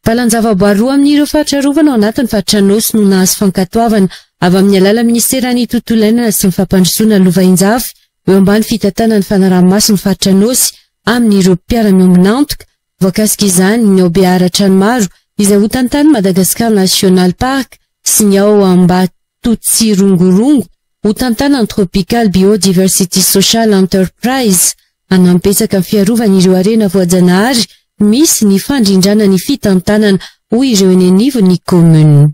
Valan-javaboary roa amin'ireo faritra arovana ao anatin'ny faritra Anôsy no nahazo fankatoavana avy amin'ny alalan'ny minisiteran'ny Tontolo iainana sy ny fampandrosoana lova Injafy eo ambany fitantanan'ny fanaraha-maso ny faritra Anôsy amin'ireo mpiara-miombon'antoka voakasika izany ny ao Beaharatranimaro izay ho tantanin'ny Madagascar National Park sy ny ao Ambatotsirongorongo Hotantanan'ny Tropical Biodiversity Social Enterprise hanampbetsaka ny fiarovana ireo harena voajanahary misy ny fandrindrana ny fitantanana, hoy ireo eny anivon'ny Commune.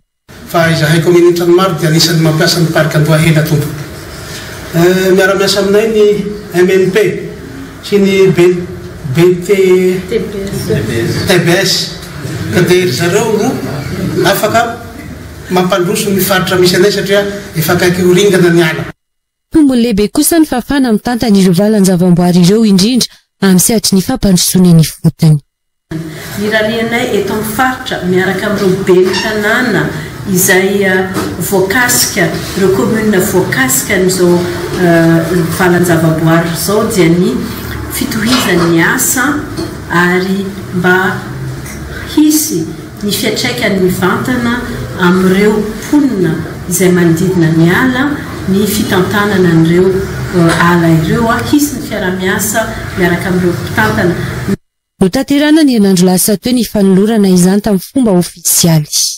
Fa izahay Commune Antranomaro dia anisan'ny mampiasa ny Parc Andohahena tompoko. Miara-miasa aminay ny MNP sy ny BT tbs ka dia ry zareo no afaka Mampandroso ny faritra misy anay satria efa akaiky ho ringana ny ala. Tombony lehibe kosa ny fahafahana mitanta an'ireo valan-javamboary ireo indrindra amin'ny sehatry ny fampandrosoana ny fotony. Irarianay eto amin'ny faritra miaraka amin'ireo ben'ny tanàna izay voakasika, ireo commune voakasika an'izao valan-javamboary izao dia ny fitohizan'ny asa ary mba hisy. ny fiantraikany mivantana amin'ireo mponina izay manodidina ny ala ny fitantanana an'ireo ala ireo, hisy ny fiaraha-miasa miaraka amin'ireo mpitantana. Notanterahina ny herinandro lasa teo ny fanolorana izany tamin'ny fomba ofisialy.